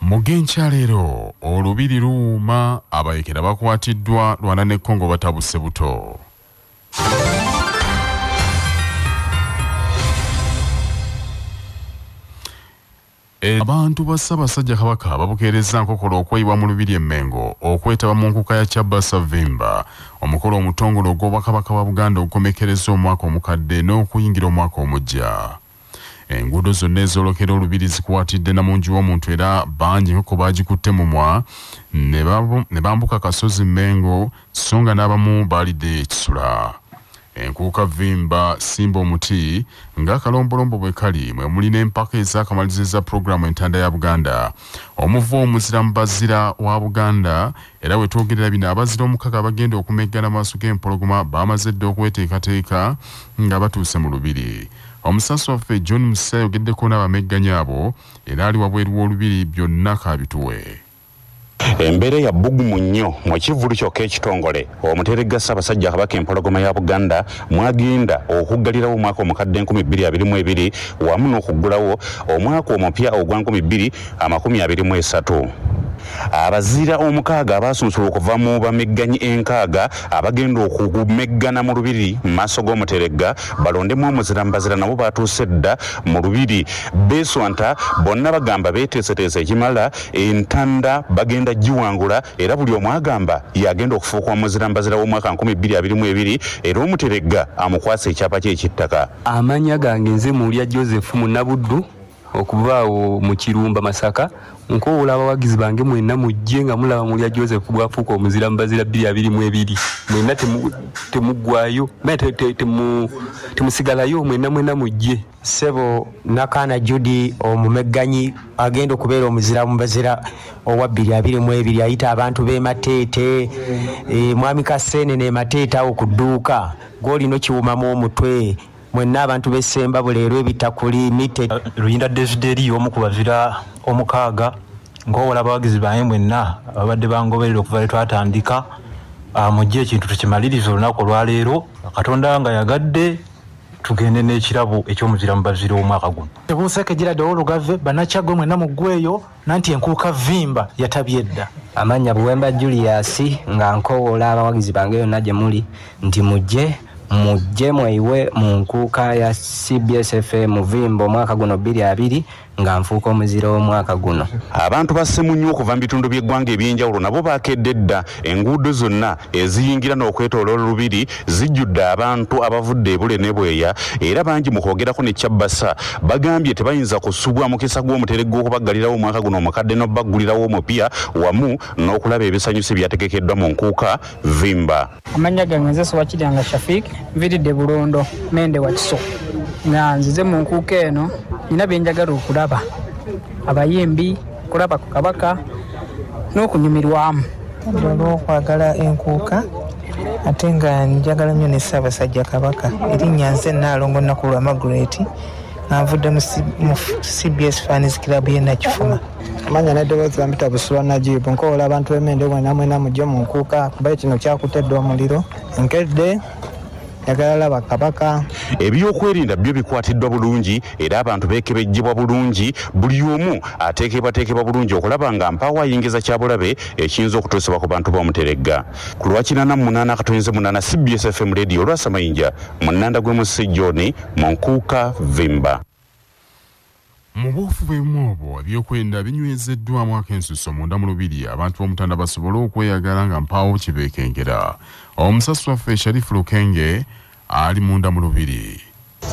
mugenkya leero olubiri luwuuma abayekera bakwatiddwa lwana ne kongo batabuse buto Abantu ba Ssaabasajja Kabaka babukeerezza nkokola okweyibwa mu Lubiri e Mmengo okwetaba mu nkuka ya Kyabba Ssavvimba, omukolo omutongole ogw'Obwakabaka bwa Buganda ogukomekkerezza omwaka omukadde n'okuyingira omwaka omuggya. Enguudo zonna ezoolokera Olubiri zikwatidde na munju w'omuntu era bangi enkoko baagikutte mumwa ne bambuka akasozi Mmengo sso nga n'abamu baaliddeyo ekisula. Enkuuka Vimba, Simba omuti, ng'akalombolombo bwe kali mwe muli n'empaka ez'akamalirizo pulogulaamu entanda ya Buganda. Omuva omuzira mu bazira wa Buganda era we twogerera bino abazira omukaga abagenda okumeggana maaso g'empologoma baamaze dda okweteekateeka nga batuuse mu lubiri. Omusasi waffe John Musa ayogeddeko n'abamegganya abo era ali wabweru w'olubiri byonna kaabituwe. Embeera ya bbugumu nnyo mu kivvulu kyokka ekitongole Omuteregga Ssaabasajja Kabaka Empologoma ya Buganda mw'agenda okuggalirawo omwaka omukadde enkumi bbiri abiri mu ebiri wamu n'okuggulawo omwaka omupya ogwa nkumi bbiri amakumi abiri mu esatu. Abazira omukaaga abaasunsulwa okuva mu bamegganyi enkaaga abagenda okumeggana mu Lubiri mu maaso g'Omuteregga balondemu omuzira mu bazira nabo baatuuse dda mu Lubiri. Beeswanta bonna bagamba beeteeseteese ekimala. Entanda bagenda giwangula era buli omu agamba y'agenda okufuuka omuzirambazira w'omwaka nkumi bbiri abiri mu ebiri era Omuteregga amukwase ekyapa kye eky'ettaka. Amannya gange nze Muulya Joseph Munabuddu okuva awo mu Kirumba Masaka. Nkowoola abawagizi bange mwenna mujje nga mulaba Muulya Joseph bw'afuuka omuzirambazira bbiri abiri mu ebiri. Mwenna temuggwaayo, temusigalayo mwenna mwenna mujje. Ssebo Nakaana Judy omumegganyi agenda okubeera omuzira mu bazira owa bbiri abiri mu ebiri ayita abantu b'e Mateete, e, Mwami Kaseenene e Mateete awo ku dduuka gw'olina okiwumamu omutwe mwenna abantu b'e Ssembabule leero ebitakuli mite. Luyinda Desideri y'omu ku bazira omukaaga nkoowola abawagizi bange mwenna ababadde bangoberera okuva lwe twatandika ah, mujje ekintu tukimalirize olunaku olwaleero Katonda nga yagadde tugende n'ekirabo eky'omuzira mu bazira omwaka guno tebuuseeko ejjira ddawo olugave banakyagwe mwenna muggweeyo nanti enkuuka vimba yatabye dda amannya buwemba julius nga nkowoola abawagizi bange yonna gye muli nti mujje mujje mweyiwe mu nkuuka ya cbsfa muvimba omwaka guno bbiri abiri nga nfuuka omuzira w'omwaka guno. Abantu ba Ssemunywa okuva mu bitundu by'eggwanga eby'enjawulo nabo baakedde dda, enguudo zonna eziyingira n'okwetooloola Lubiri zijjudde abantu abavudde e Bule ne Bweya era bangi mu kwogerako ne Cbsa bagambye tebayinza kusubwa mukisa gw'omuteregga okubaggalirawo omwaka guno omukadde n'okubaggulirawo omupya wamu n'okulaba ebisanyusa ebyategekeddwa mu Nkuuka Vimba. amannya gange nze sobakiryanga shafik nviridde bulondo mende wakiso nga nzize mu nkuuka eno nina byenjagala okulaba abayimbi kulaba ku kabaka n'okunyumirwamu olwokwagala enkuuka ate nga njagala nnyo ne ssaabasajja kabaka erinnya nze naalongo naku lwa magret nga nvudde mu cbs fans club ye nakifuma manya nedoboozi bampita busula najibu nkowola abantu bemende mwena mwena mujje munkuuka kubaye kino kyakuta edda omuliro nkedde njagala laba kabaka ebyokwerinda byo bikwatiddwa bulungi era abantu beekebejjebwa bulungi buli omu ateekebwateekebwa bulungi okulaba nga mpaawo ayingiza kyabulabe ekiyinza okutuusibwa ku bantu bomuteregga ku lwakinana mu munaana akatoyinze munaana cbsfm radio olwasamayinja mu nnanda gw'emussi john mu nkuuka vimba Mu buufu bwe bumu obwo, ebyokwerinda binywezeddwamu akensuso munda mu Lubiri abantu b'Omutanda basobole okweyagala nga mpaawo kye beekengera. Omusasi waffe Sharifu Lukenge ali munda mu Lubiri.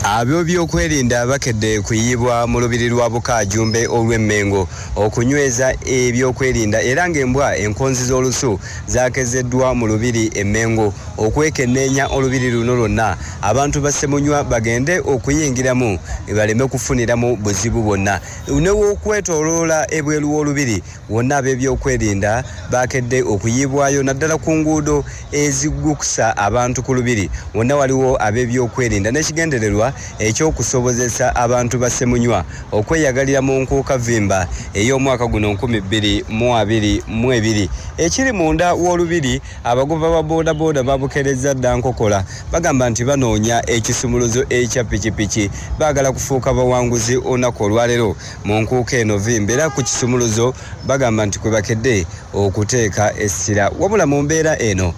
Ab'ebyokwerinda bakedde kuyiibwa mu Lubiri lwa Bukaajumbe olw'e Mmengo okunyweza ebyokwerinda era ng'embwa enkonzi z'olusu zaakezeddwa mu Lubiri e Mmengo okwekenneenya Olubiri luno lwonna abantu ba Ssemunywa bagende okuyingiramu baleme kufuniramu buzibu bwonna newokwetoloola ebweru w'olubiri wonna ab'ebyokwerinda baakedde okuyiibwayo naddala ku nguudo ezigukusa abantu ku lubiri wonna waliwo ab'ebyokwerinda n'ekigendererwa eky'okusobozesa abantu ba Ssemunywa okweyagalira mu nkuukavimba ey'omwaka guno 2022 ekiri munda w'olubiri Abagoba ba bodaboda babukerezza dda nkokola bagamba nti banoonya ekisumuluzo ekya pikipiki baagala kufuuka bawanguzi olunaku olwalero mu nkuuka eno vimba era ku kisumuluzo bagamba nti kwe bakedde okuteeka essira wabula mu mbeera eno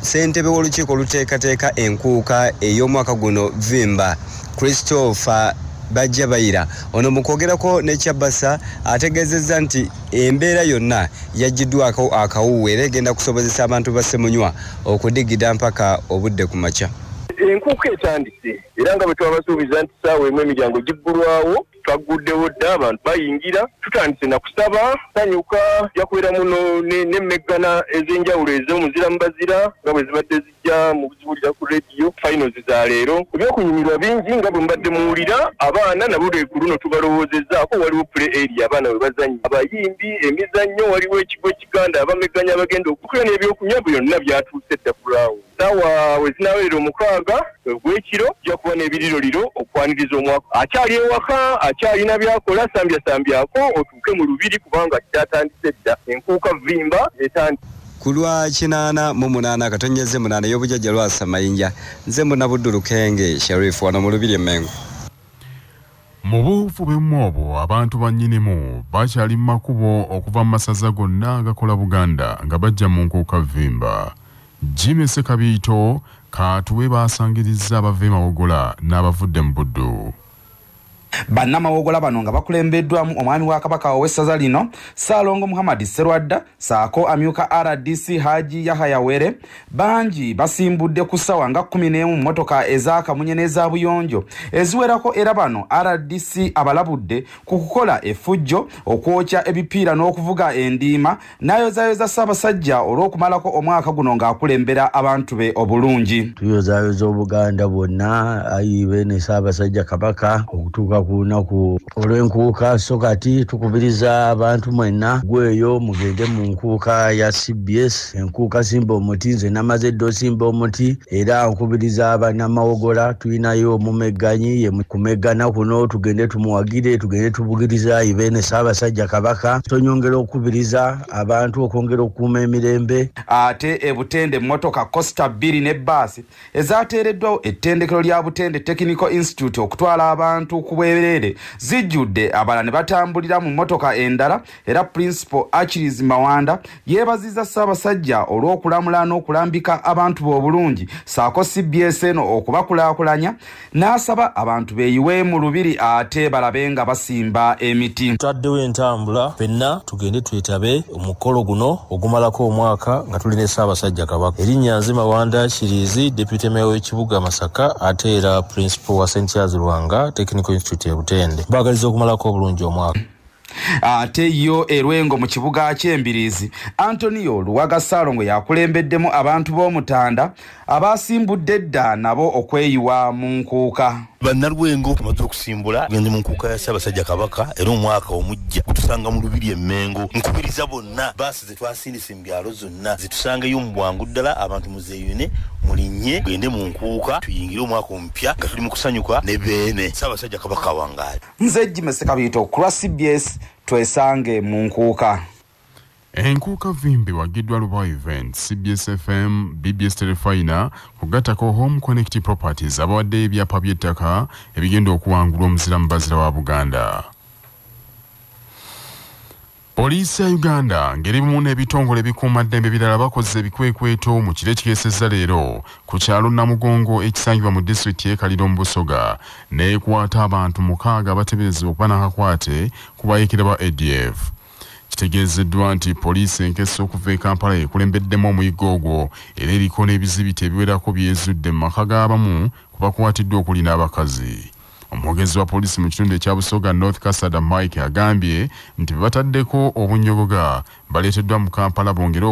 ssentebe w'olukiiko oluteekateeka enkuuka ey'omwaka guno vimba christopher bajja bayira ono mu kwogerako ne kyabasa ategeezezza nti Embeera yonna yaggyiddwako akawuuwe era egenda kusobozesa abantu ba Ssemunywa okudigida mpaka obudde ku makya. Enkuuka etandise era nga bwe twabasuubiza nti ssaawa emu emiryango giggulwawo twagguddewo dda abantu bayingira tutandise na kusaba sanyuka ja kubeeramu n'emmeggana ez'enjawulo ez'omuzira mu bazira nga bwe zibadde mujja muziwulira ku rediyo finals za leero ebyokunyumirwa bingi nga bwe mubadde muwulira abaana nabo lweku luno tubalowoozezaako waliwo pule eri abaana bwe bazannya abayimbi emizannyo waliwo ekigo ekiganda abameganya abagenda okukuya n'ebyokunywa byonna byatuuse dda kulaawo saawa we zinawerera omukaaga ogw'ekiro ojja kuba n'ebiriroliro okwaniriza omwaka akyali ewaka akyalina byakola sambyasambyako batuuke mu lubiri kubanga kyatandise dda enkuuka vimba etandise ku lwa kinaana mu munaana katonyeze munaana ey'obujajja lwasa mayinja nze munabuddu lukenge sharif wano mu lubiri emmengo mu buufu bwemu obwo abantu bannyinimu bakyali mu makubo okuva mu masaza gonna agakola buganda nga bajja mu nkuuka vimba jimmy sekabiito kaatuwe baasangirizza abava emawogola n'abavudde mu buddu Bannamawogola bano nga bakulembeddwamu omwami wa Kabaka ow'essaza lino Ssaalongo Muhammad Sserwadda ssaako amyuka rdc Haji Yahaya Were bangi basimbudde ku ssawa nga kkumi n'emu mmotoka eza kamunye n'eza buyonjo eziwerako era bano rdc abalabudde ku kukola effujjo, okwokya ebipiira n'okuvuga endiima. n'ayozayoza Ssaabasajja olw'okumalako omwaka guno ng'akulembera abantu be obulungi. Tuyozayoza Obuganda bwonna ayi beene Ssaabasajja Kabaka okutuuka ku lunaku olw'enkuuka so kati tukubiriza abantu mwenna gweyo mugende mu nkuuka ya cbs enkuuka simba omuti nze namaze dda osimba omuti era nkubiriza abanamawogola tulinayo omumegganyi ye kumeggana kuno tugende tumuwagire tugende tubugiriza ibeene saabasajja kabaka tonyongera okukubiriza abantu okwongera okukuuma emirembe ate ebutende emmotoka costa bbiri ne baasi ezateereddwawo ettendekero lya butende technical institute okutwala abantu ku bwereere zijjudde abala ne batambulira mu mmotoka endala era Principal Achilles Mawanda yeebazizza Ssaabasajja olw'okulamula n'okulambika abantu be obulungi saako cbs eno okubakulaakulanya n'asaba abantu beeyiwe mu lubiri ate balabe nga basimba emiti. Tutaddewo entambula fenna tugende twetabe omukolo guno ogumalako omwaka nga tuli ne Ssaabasajja Kabaka. Erinnya nze Mawanda Achilles, Deputy Mayor w'ekibuga Masaka ate era Principal wa St Charles Lwanga Technical Institute e Butende. Mbaagaliza okumalako obulungi omwaka. ate yo erwengo mu kibuga ky'embiriizi antonio luwaga ssaalongo yakulembeddemu abantu b'omutanda abaasimbudde edda nabo okweyiwa mu nkuuka bannalwengo bamaze okusimbula gende mu nkuuka ya ssaabasajja kabaka era omwaka omujja gutusanga mu lubiri emmengo nkubiriza bonna baasi zetwasindise mu byalo zonna zitusangeyo mu bwangu ddala abantu muzeeyune mulinye gende mu nkuuka tuyingire omwaka omupya nga tuli mu kusanyuka ne beene ssaabasajja kabaka wangaali nze jime sekabiito kulwa cbs twesange mu nkuuka enkuuka vimbi wagiddwa lubawa event cbs fm bbs telefina kugattako home connect properties abawaddeyo ebyapa by'ettaka ebigenda okuwangulwa omuzira mu bazira wa buganda Poliisi ya Uganda ngeri bumu n'ebitongole ebikuuma ddembe birala bakoze ebikwekweto mu kiro ekikeesezza leero ku kyalo Namugongo ekisangibwa mu disitulikiti y'e Kaliro mu Busoga n'ekwata abantu mukaaga abateberezebwa okuba n'akakwate ku bayeekera ba ADF. Kitegeezeddwa nti poliisi enkesa okuva e Kampala ekulembeddemu omuyiggo ogwo era eriko n'ebizibiti ebiwerako byezudde mu maka g'abamu ku bakwatiddwa okuli n'abakazi. Omwogezi wa poliisi mu kitundu ekya Busoga North Kasada Mike agambye nti bebataddeko obunyogoga baleeteddwa mu Kampala bongere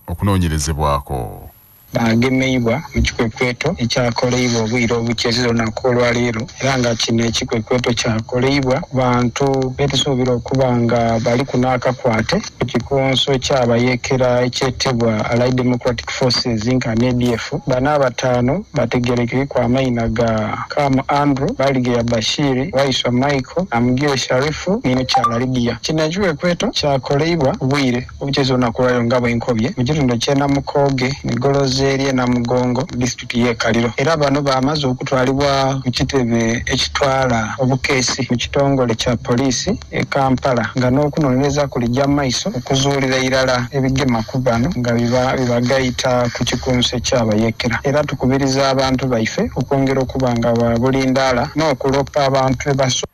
okunoonyerezebwako. agemeibwa mu kikwekweto ekyakoleibwa obwire obukyerera olunaku olwaleero era nga kino ekikwekweto kyakoleibwa bantu betusuubira okuba nga bali ku naakakwate ku kikunso kyabayeekera eky'e Tebwa Allied Democratic Forces Inc and ADF bana abataano bategerekere ku amaina ga Kam Andrew, Baligeya Bashiri, Waiswa Michael, Namugire Sharifu ne Mukyala Lydia. Kino ekiwekweto kyakoleibwa obwire obukyeza olunaku lwalero nga bwenkobye mu kitundu ky'e Namukooge mu goloza ery'e Namugongo mu disitulikiti y'e Kaliro era bano baamaze okutwalibwa ku kitebe ekitwala obukeesi mu kitongole kya poliisi e Kampala nga n'okunoonyereza kulijja maiso okuzuulira irala ebigema ku bano nga bibagayita ku kikunse ky'abayeekera era tukubiriza abantu baife okwongera okuba nga babulindaala n'okuloppa abantu ebaso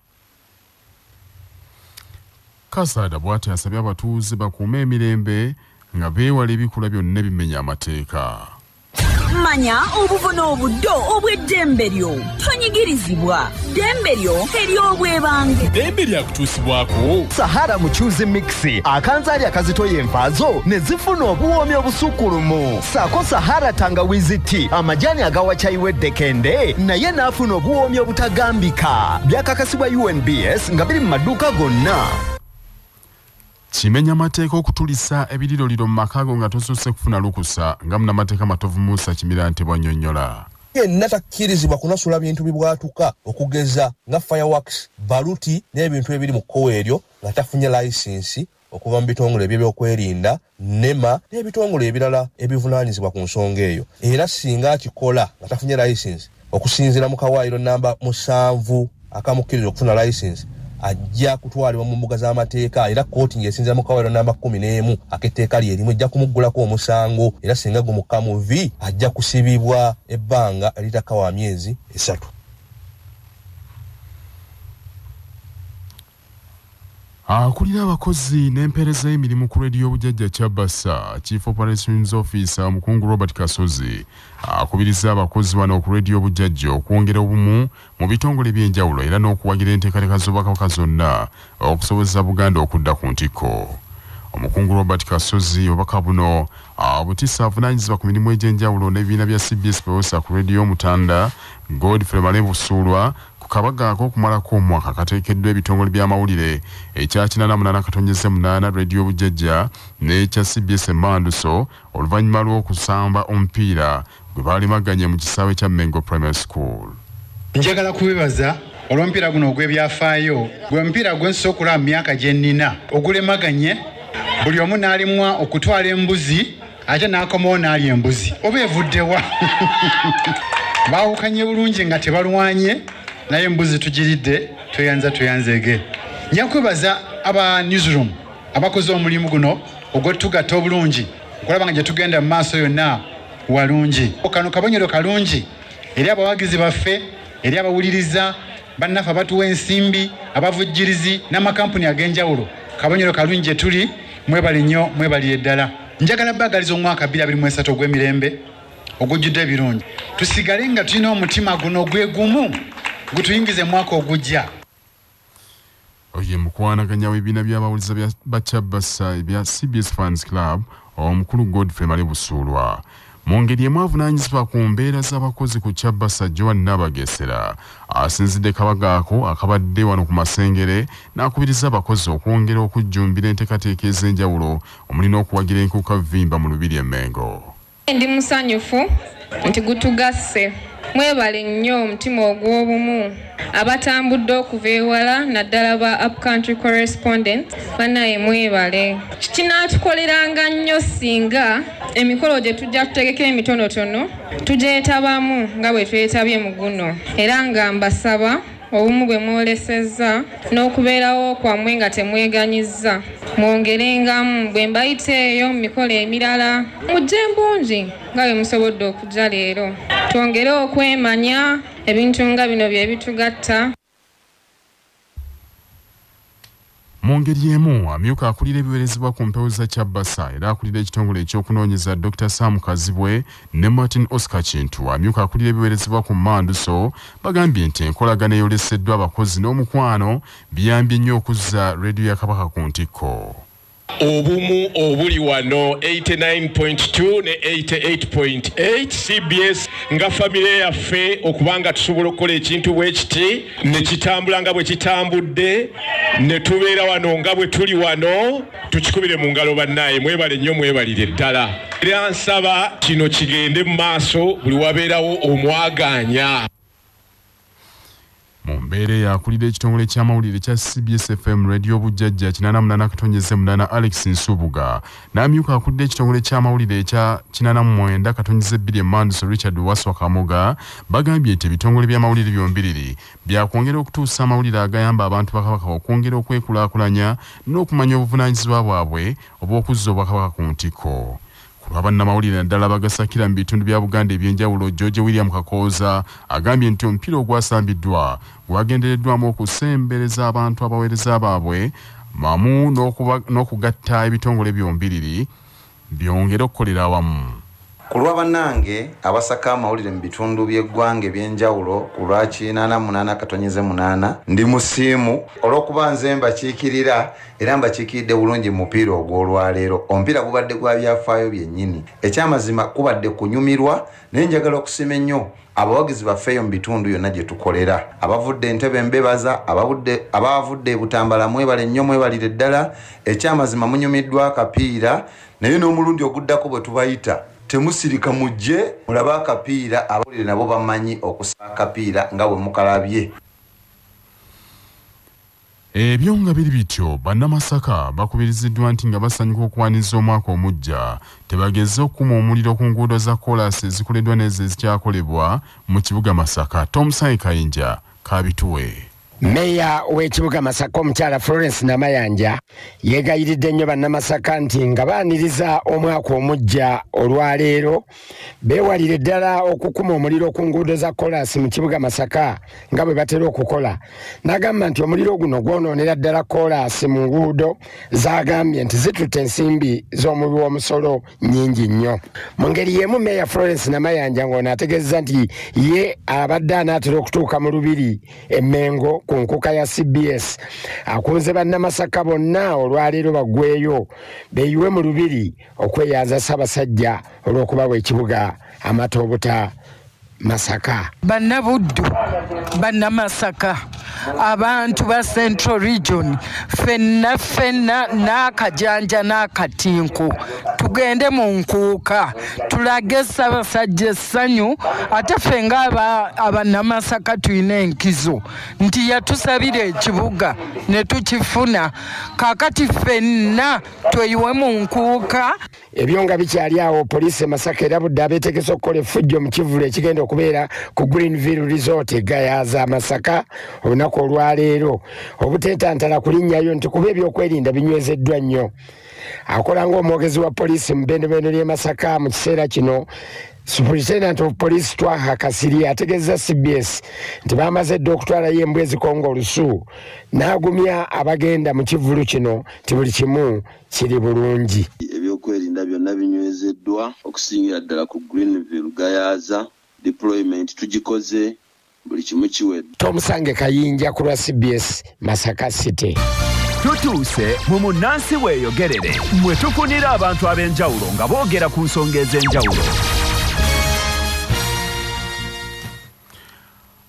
Kasaada bwati asabye abatuuze bakuume emirembe nga beewala ebikula byonna ebimenya amateeka. manya obuvuna obuddo obw'eddembe lyo tonyigirizibwa ddembe lyo ery'obwebange ddembe lyakutuusibwako sahara mucuzi mixi akanzaali akazitoya envaazo ne zifuna obuwoomi obusukkulumu saako sahara tangawizi ti amajaani agawa kyayi w'eddekende naye n'afuna obuwoomi obutagambika byakakasibwa unbs nga biri mu maduuka gonna Kimenya mateeka okutulisa ebiriroliro mu maka go nga tosoose kufuna lukusa nga munamateeka Matovu Musa Kimirante bw'annyonnyola. yenna takkirizibwa kunasula bintu bibwatuka okugeza nga fireworks baluti n'ebintu ebiri mu kkowa eryo nga tafunye layisinsi okuva mu bitongole ebyebyokwerinda nema n'ebitongole ebirala ebivunaanyizibwa ku nsonga eyo era singa akikola nga tafunye layisinsi okusinzira mu kawaayiro namba musanvu akamukkiriza okufuna layisinsi ajja kutwalibwa mu mbuga z'amateeka era kkooti ng'esinzira mu kawaayiro namba kumi n'emu ak'etteeka lye erimu ejja kumuggulako omusango era singa gumukka mu vi ajja kusibibwa ebbanga eritakawa myezi esatu Akulira abakozi n'empeereza y'emirimu ku Radio Bujajja Kyabasa, Chief Operations Officer Omukungu Robert Kasozi akubirizza abakozi bano ku Radio Bujajja okwongera obumu mu bitongole by'enjawulo era n'okuwagira enteekateeka z'Obwakabaka zonna okusobozesa Buganda okudda ku ntikko. Omukungu Robert Kasozi obubaka buno abutisa ah, avunaanyizibwa ku mirimu egy'enjawulo n'ebibiina bya CBS Pewosa ku Radio Mutanda, Godfrey Male Busuulwa, Ku kabaga ak'okumalako omwaka kateekeddwa ebitongole by'amawulire ekya kinana munana katonnyeze munaana, Radio Bujjajja n'ekya cbs emmanduso oluvannyuma lw'okusamba omupiira gwe baalemaganye mu kisaawe kya Mengo Primary School. Njagala kubebaza olw'omupiira guno ogw'ebyafaayo. Gwe mupiira gwe nsoose okulaba mu myaka gye nnina ogulemaganye buli omu n'alemwa okutwala embuzi. ate n'akomawo n'alya embuzi oba evuddewa baawukanye bulungi nga tebalwanye naye embuzi tugiridde tweyanza tweyanzege nja kwebaza aba newsroom abakoze omulimu guno ogwettugatta obulungi okulaba nga gye tugenda mu maaso yonna walungi kano kabonyero kalungi eri abawagizi baffe eri abawuliriza bannaffe abatuwa ensimbi abavujjirizi n'amakampuni ag'enjawulo kabonyero kalungi gye tuli Mwebale nnyo mwebalire ddala. Njagala baagaliza omwaka 2023 ogw'emirembe ogujjudde ebirungi, tusigale nga tulina omutima guno gwe gumu gutuyingize mwaka ogujja. Oye mukwanaganya w'ebibiina by'abawuliza bya Bacabasa ebya CBS Fans Club omukulu Godfrey Male Busuulwa Mu ngeri emu avunaanyizibwa ku mbeera z'abakozi ku Kyabasa Joan Nabagesera asinzidde kabaga ako akabadde wano ku Masengere n'akubiriza abakozi okwongera okujjumbira enteekateeka ez'enjawulo omuli n'okuwagira enkuka vimba mu Lubiri e Mengo. Ndi musanyufu nti gutugasse. Mwebale nnyo omutima ogw'obumu. abatambudde okuva ewala naddala ba upcountry correspondent banaye mwebale kinaatukoleranga nnyo singa emikolo gye tujja tutegeka emitonotono tugyetabamu nga bwe twetabye mu guno era nga mbasaba obumu bwe mwolesezza n'okubeerawo kwammwe nga temweganyizza mwongerengamu bwe mbayita eyo mu mikolo emirala mujje mbungi nga bwe musobodde okujja leero twongere okwemanya ebintu nga bino bye bitugatta mu ngeri emu amyuka akulira ebiwerezebwa ku mpewo za kyabasa era akulira ekitongole ekyokunoonyeza dr sam kazibwe ne martin oscar kintu amyuka akulira ebiwerezebwa ku manduso bagambye nti enkolagana eyoleseddwa abakozi n'omukwano biyambye nnyo okuzza rediyo ya kabaka ku ntikko obumu obuli wano 89.2 ne 88.8 cbs nga famire yaffe okuba nga tusobola okukola ekintu bwe kiti ne kitambula nga bwe kitambudde ne tubeera wano nga bwe tuli wano tukikubire mu ngalo bannaaye mwebale nnyo mwebalire ddala era nsaba kino kigende mu maaso buli wabeerawo omwagaanya mu mbeera eyo akulira ekitongole ky'amawulire kya cbs fm radio bujjajja 88 katonyeze munana alex nsubuga n'amyuka akulira ekitongole ky'amawulire ekya 89 katonyeze bbiri emanduso richard waswa kamoga bagambye nti ebitongole by'amawulire byombiriri byakwongera okutuusa amawulire agayamba abantu bakabaka okwongera okwekulaakulanya n'okumanya obuvunaanyizibwa bwabwe obw'okuzza obwakabaka ku ntikko Ku lwa bannamawulire naddala abagasakira mu bitundu bya Buganda eby'enjawulo, George William Kakooza agambye nti omupiira ogwasambiddwa gwagendereddwamu okusembereza abantu abaweereza baabwe mamu n'okugatta ebitongole byombiriri byongere okukolera awamu. Ku lwa bannange abasaka amawulire mu bitundu by'eggwanga eby'enjawulo ku lwa kinaana munaana katonnyeze munaana, ndi musiimu olw'okuba nze mbakiikirira. era mbakiikiridde bulungi mu mupiira ogw'olwaleero omupiira gubadde gwa byafaayo byennyini ekyamazima kubadde kunyumirwa naye njagala okusima ennyo abawagizi baffeeyo mu bitundu yonna gye tukolera abavudde entebe mbebaza abaavudde ebutambala mwebale nnyo mwebalire ddala ekyamazima munyumiddwa akapiira naye n'omulundi oguddako bwe tubayita temusirika mujje mulabe akapiira abawulire nabo bamanyi okusaa akapiira nga bwe mukalabye Ebyo nga biri bityo, Bannamasaka bakubiriziddwa nti nga basanyuka okuwaniriza omwaka omuggya, tebagezze okukuma omuliro ku nguudo za kkoolaasi ezikoleddwa n'ezo ezikyakolebwa mu kibuga Masaka. Tomusange Kayinja k'abituwe. Meeya w'ekibuga Masaka omukyala Florence Namayanja yeegayiridde nnyo Bannamasaka nti nga baaniriza omwaka omuggya olwaleero, beewalire ddala okukuma omuliro ku nguudo za kolaasi mu kibuga masaka nga bwe batera okukola n'agamba nti omuliro guno gwonoonera ddala kolaasi mu nguudo z'agambye nti zitutte ensimbi z'omubi w'omusolo nnyingi nnyo mu ngeri y'emu meeya florence namayanja ng'ono ategeeza nti ye abadde anaatera okutuuka mu lubiri emmengo ku nkuka ya cbs akunze bannamasaka bonna olwaleero baggweeyo beeyiwe mu lubiri okweyanza Ssabasajja olw'okubawa ekibuga amata obuta Masaka. Banna Buddu, banna Masaka, abantu ba Central Region, fenna fenna n'akajanja n'akatinku tugende mu nkuuka tulage Ssabasajja essanyu ate ffe ng'abannamasaka tulina enkizo nti yatusabira ekibuga ne tukifuna kaakati fenna tweyiwe mu nkuuka ebyo nga bikyali awo poliisi e masaka erabudde abeetegese okukola effujjo mu kivulu ekigenda okubeera ku greenville resort egayaza masaka olunaku olwaleero obuteetantala kulinnyayo nti kuba ebyokwerinda binywezeddwa nnyo akola ng'omwogezi wa poliisi mu bendobendo ly'e masaka mu kiseera kino Superintendent of Police Twaha Kasiri ategezza CBS nti baamaze dda okutwalayo embwa ezikonga olusu n'agumya abagenda mu kivvulu kino nti buli kimu kiri bulungi. Ebyokwerinda byonna binywezeddwa okusingira ddala ku Greenville Gayaza deployment tugikoze buli kimu kiwedde. Tomusange Kayinja ku lwa cbs Masaka City. Tutuuse mu munnansi weeyogerere mwe tufunira abantu ab'enjawulo nga boogera ku nsonga ez'enjawulo.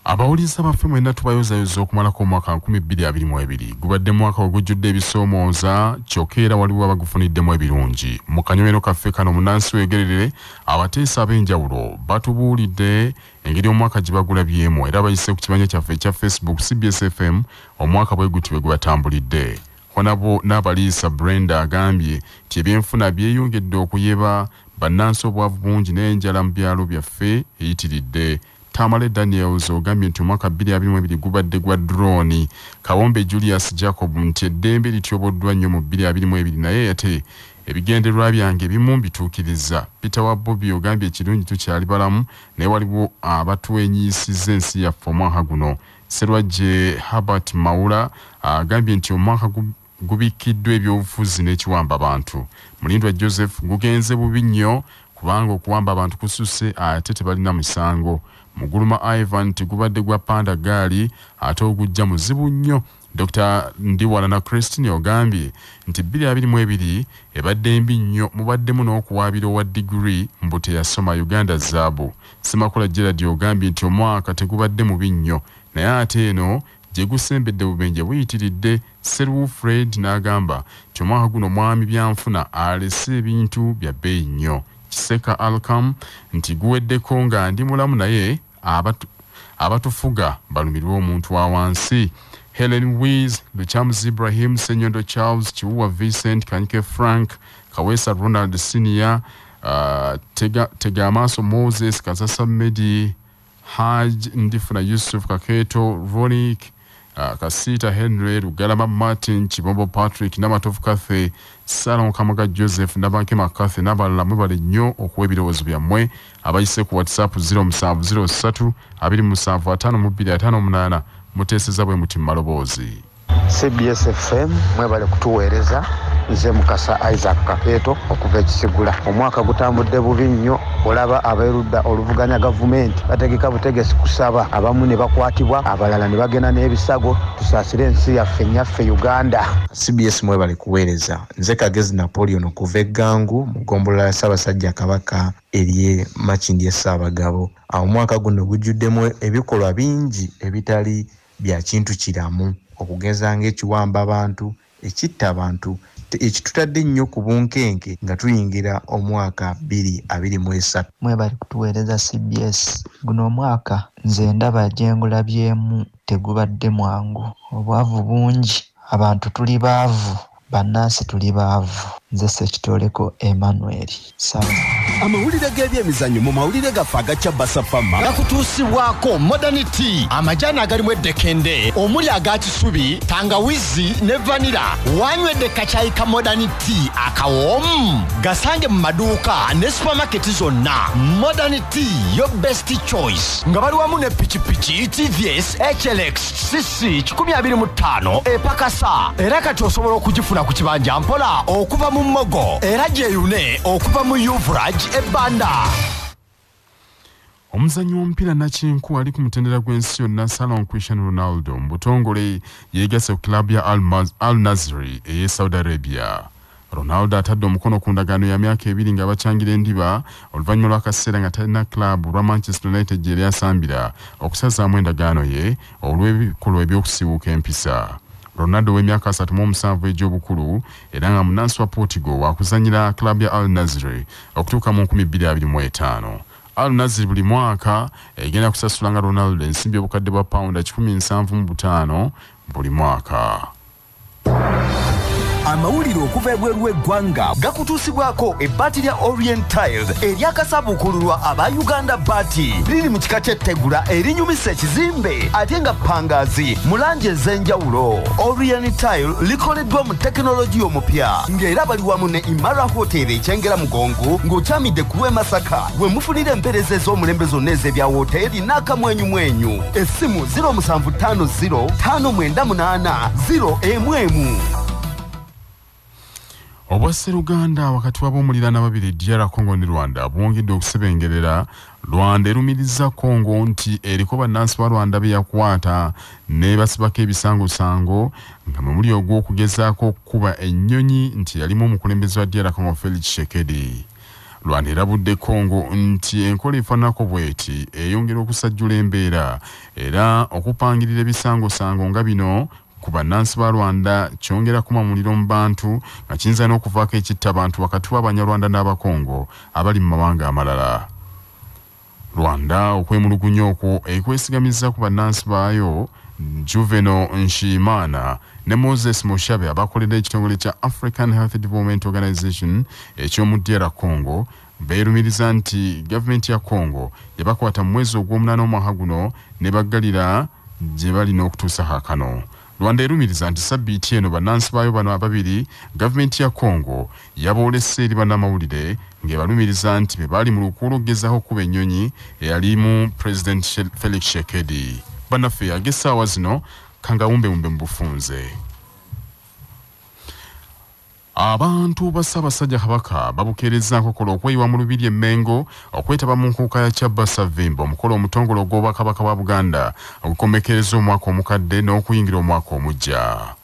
abawuliriza baffe mwena tubayozayoza okumalako omwaka 222 gubadde mwaka ogujjudde ebisoomooza kyokka era waliwo abagufuniddemu ebirungi mu kanyomero kaffe kano munansi wegererere abateesa ab'enjawulo batubuulidde engeri omwaka gye bagulabyemu era bayise ku kimanya kyaffe ekya facebook cbsfm omwaka bwe guti bwe gubatambulidde honabo n'abaliisa brenda agambye nti ebyenfuna byeyongedde okuyeba bannansi obwavu bungi n'enjala mu byalo byaffe eyitiridde tamale daniels ogambye nti omwaka 22 gubadde gwa droni kawombe julius jacob nti eddembe lityoboddwa nnyo mu 22 naye ate Ebigendererwa byange ebimu mbituukirizza. Peter wa Bobi ogambye ekirungi tukyali balamu naye waliwo abatwenyiisizza ensi yaffe omwaka guno. Serwajje Herbert Mawula agambye nti omwaka gubikkiddwa ebyobufuzi n'ekiwamba bantu. Mulindwa Joseph gugenze bubi nnyo kubanga okuwamba abantu kususse ate tebalina musango. Muguluma Ivan nti gubadde gwa panda gaali ate ogujja muzibu nnyo. Dokita Ndiwalana Christine ogambye nti bbiri abiri mu ebiri ebadde mbi nnyo mubaddemu n'okuwaabira owa digiri mbu teyasoma Uganda zaabu. Ssemakula Gerald ogambye nti omwaka tegubadde mubi nnyo naye ate eno gye gusembedde bubenje buyitiridde Sseruwu Fred n'agamba nti omwaka guno mwami byanfuna alese ebintu bya bbeeyi nnyo. Kiseka Alcam nti guweddeko nga ndi mulamu naye Abatu, abatufuga balumirwa omuntu wa wansi helen wis lukyamuzi ibrahim senyondo charles kiwuwa vincent kanyike frank kaweesa ronald senior uh, tega, tega amaaso moses kasasa medi haj ndifuna yusuf kaketo ronik Ah, kasiita henry lugalama martin kibombo patrick namatovu cathy salon kamuga joseph nabanke macathy nabalala mwebale nnyo okuwa ebirowoozo byammwe abayise ku whatsapp 0703752558 muteeseza bwe muti mumaloboozi cbs fm mwebale kutuweereza nze mukasa isaac kapeeto okuva ekisigula omwaka gutambudde bubi nnyo olaba aberudda oluvuganya gavumenti bategeka butegesi kusaba abamu ne bakwatibwa abalala ne bagenda n'ebisago tusaasire ensi yaffe nyaffe uganda cbs mwebale kuweereza nze kagezi napoleon okuva eggangu mu gombolola ya ssaabasajja kabaka erye makindi essaabagabo awo omwaka guno gujjuddemu ebikolwa bingi ebitali bya kintu kiramu okugeza ng'ekiwamba abantu ekitta abantu ekitutadde ennyo ku bunkenke nga tuyingira omwaka bbiri abiri mu esatu. Mwebale kutuweereza cbs. Guno omwaka nze ndaba gye ngulabyemu tegubadde mwangu. Obwavu bungi, abantu tuli baavu, bannansi tuli baavu. Nze Ssekitooleko Emmanuel. Sawa. amawulire g'ebyemizannyo mu mawulire gaffe agakya basafama gakutuusibwako modern t amajaani agalimu eddekende omuli aga kisubi tangawizi ne vanira wanywedde kakyayi ka modern t akawoomu gasange mu maduuka ne supamaketi zonna modern t yo best choice nga bali wamu ne pikipiki tvs hlx cc 25 epakasa era kati osobola okugifuna ku kibanja mpola okuva mu mmogo era gyeyune okuva mu uvraj ebanda omuzanyi w'omupiira nakinku ali ku mutendera gw'ensi yonna salon christian ronaldo mu butongole yeegase ku kilabu ya al nazri ey'e saudi arabia Ronaldo atadde omukono ku ndagaano ya myaka ebiri nga bacangira endiba oluvannyuma lw'akaseera nga talina club lwa Manchester United gye yali asambira okusazaamu endagaano ye olw'ebikolwa eby'okusiiwuuka empisa. Ronaldo ow'emyaka 37 egy'obukulu era nga munnansi wa Portugal waakuzannyira club ya Al Nassr okutuuka mu 2025. Al Nassr buli mwaka egenda kusasulanga Ronaldo ensimbi obukadde bwa pawunda 75 buli mwaka. amawulire okuva ebweru w'eggwanga gakutuusibwako ebbaati lya orient tiles eryakasabuukululwa aba uganda baati liri mu kika ky'ettegula erinyumisa ekizimbe ate nga pangaazi mu langi ez'enjawulo orient tile likoleddwa mu tekinologiya omupya ng'era bali wamu ne imara hotel ekyengera mugongo ng'okyamidde ku lw'e masaka we mufunira empeereza ez'omulembe zonna ez'ebya wooteeri n'akamwenyumwenyu essimu 0750598011 obwasseruganda wakati w'ab'omuliraana babiri dr congo ne rwanda bwongedde okusebengerera rwanda erumiriza congo nti eriko bannansi ba rwanda be yakwata nebasibako ebisangosango nga mwe muli ogw'okugezaako okukuba ennyonyi nti yalimu omukulembeze wa dr congo felix shekedi Rwanda erabudde Congo nti enkola efanako bweti eyongera okusajjula embeera era okupangirira ebisangosango nga bino ku bannansi ba Rwanda kyongera kuma muliro mu bantu nga kiyinza n'okuvaako ekitta abantu wakati w'Abanyarwanda n'Abakongo abali mu mawanga amalala. Rwanda okwemulugunya okwo ekwesigamizza ku bannansi baayo Juveno Nshiimana ne Moses Mushabe abakolera ekitongole kya African Health Development Organization eky'omu DR Congo beerumiriza nti gavumenti ya Congo yabakwata mu mwezi ogw'omunaana omwaka guno ne baggalira gye bali n'okutuusa kaakano. Rwanda erumiriza nti sabbiiti eno bannansi baayo bano ababiri gavumenti ya Congo yaboolese eri bannamawulire ng'ebalumiriza nti be baali mu lukuula okugezaako okukuba ennyonyi eyalimu pulezidenti Felix Shekedi. Bannaffe yage essaawa zino kangawumbewumbe mu bufunze. Abantu ba Ssaabasajja Kabaka babukeerezzaako kola okweyiwa mu Lubiri e Mengo okwetaba mu nkuuka ya Kyabba Ssavvimba omukolo omutongole ogw'Obwakabaka bwa Buganda ogukomekkereza omwaka omukadde n'okuyingira omwaka omuggya.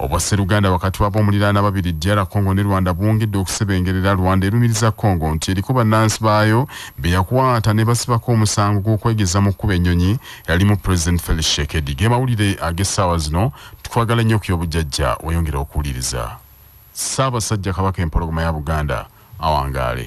Obwasseruganda wakati w'ab'omuliraano ababiri DR Congo ne Rwanda bwongedde okusebengerera, Rwanda erumiriza Congo nti eriko bannansi baayo be yakwata ne basibako omusango gw'okwegeza mu kkuba ennyonyi eyalimu Pulezidenti Felix Tshisekedi. Ge mawulire ag'essaawa zino. twagala nnyo ku y'obujjajja weyongera okuwuliriza ssaabasajja kabaka empologoma ya buganda awangaale